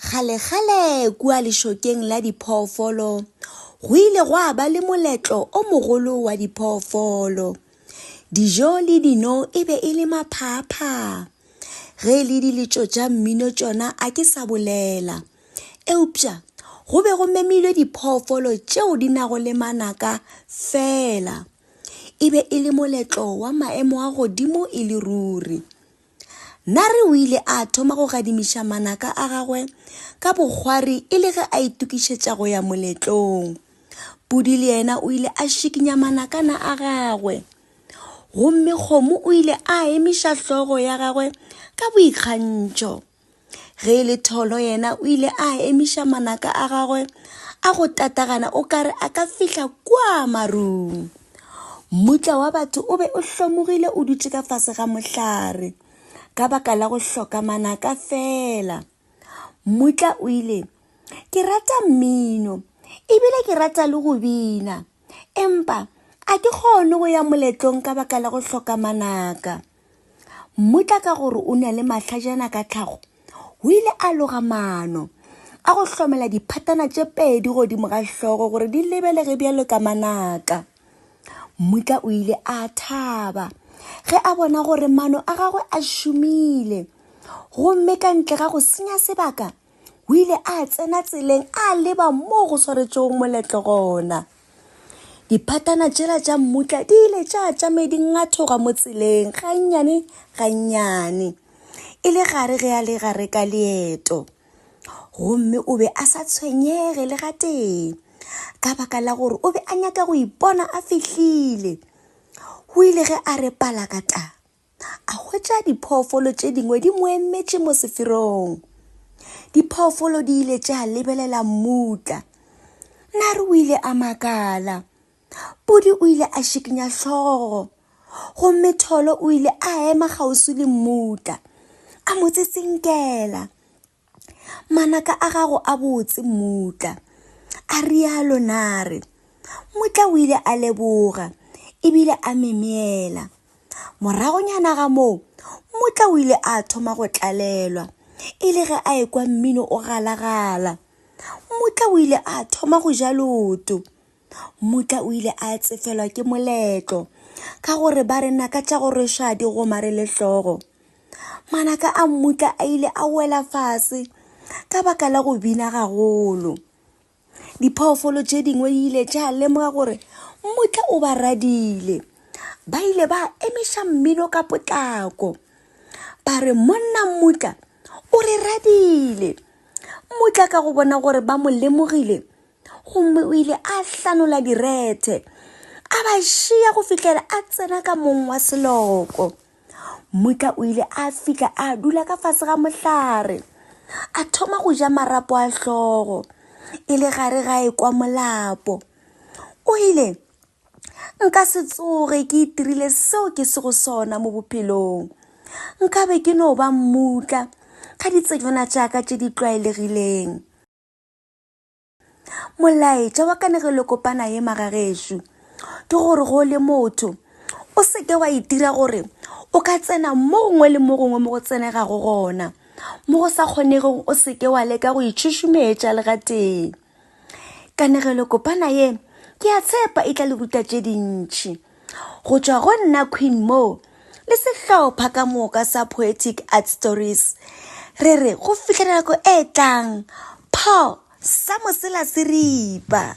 Kgalekgale kua lešokeng la diphoofolo go ile gwa ba le moletlo o mogolo wa diphoofolo. Dijo le dino e be e le maphaaphhaa. Ge e le diletšo tša mmino tšona a ke sa bolela. Eupša go be go memilwe diphoofolo tšeo di nago le manaka fela. E be e le moletlo wa maemo a godimo e le ruri. Nare o ile a thoma go gadimiša manaka a gagwe ka bokgwari e le ge a itokišetša go ya moletlong. Pudi le yena o ile a šikinya manakana a gagwe. Gomme kgomo o ile a emiša hlogo ya gagwe ka boikgantšho. ge e le tholo yena o ile a emiša manaka a gagwe a go tatagana o kare a ka fihla kwa marung mmutla wa batho o be o hlomogile o dutše ka fase ga mohlare ka baka la go hloka manaka fela mmutla o ile ke rata mmino ebile ke rata le go bina empa a ke kgone go ya moletlong ka baka la go hloka manaka Mmutla ka gore o ne le mahlajana ka tlhago, o ile a loga maano a go hlomela diphatana tše pedi godimo ga hlogo gore di lebelege bjalo ka manaka. Mmutla o ile a thaba ge a bona gore maano a gagwe a šomile gomme ka ntle ga go senya sebaka O ile a tsena tseleng a leba moo go swaretšego moletlo gona. Diphatana tšela tša mmutla di ile tša tšame di ngathoga mo tseleng gannyane gannyane e le gare ge a le gare ka leeto gomme o be a sa tshwenyege le gatee ka baka la gore o be a nyaka go ipona a fihlile o ile ge a re palakata a hwetša diphoofolo tše dingwe di mo emetše mo seferong diphoofolo di ile tša lebelela mmutla nare o ile a makala podi o ile a šikinya hlogo gomme tholo o ile a ema kgauswi le mmutla a mo tsetsinkela Manaka a gago a botse, mmutla, a rialo Nare. Mmutla o ile a leboga e bile a memeela. Moragonyana ga moo, mmutla o ile a thoma go tlalelwa e le ge a ekwa mmino o galagala. Mmutla o ile a thoma go ja loto. Mmutla o ile a tsefelwa ke moletlo ka gore ba re naka tša go rweša di gomare le hlogo. Manaka a Mmutla a ile a wela fase ka baka la go bina gagolo. Diphoofolo tše dingwe di ile tša lemoga gore Mmutla o ba radile. Ba ile ba emiša mmino ka potlako ba re monna Mmutla o re radile. Mmutla ka go bona gore ba mo lemogile gomme o ile a hlanola direthe a ba šia go fihlela a tsena ka mong wa seloko mutla o ile a fihla a dula ka fase ga mohlare a thoma go ja marapo a hlogo e le gare ga e kwa molapo o ile nka se tsoge ke itirile seo ke se go sona mo bophelong nka be ke no ba mmutla ga ditsejwana tša ka tše di tlwaelegileng molaetša wa kanegelokopana ye magagešo ke gore go le motho o seke wa itira gore o ka tsena mo gongwe le mo gongwe mo go tsenegago gona mo go sa kgonegong o seke wa leka go itšhošometša le ga tee kanegelokopana ye ke a tshepa e tla le ruta tše dintšhi Go tšwa go nna Queen Mo le sehlopha ka moka sa Poetic Art Stories, re re go fihla nako e tlang, pho sa mosela se ripa.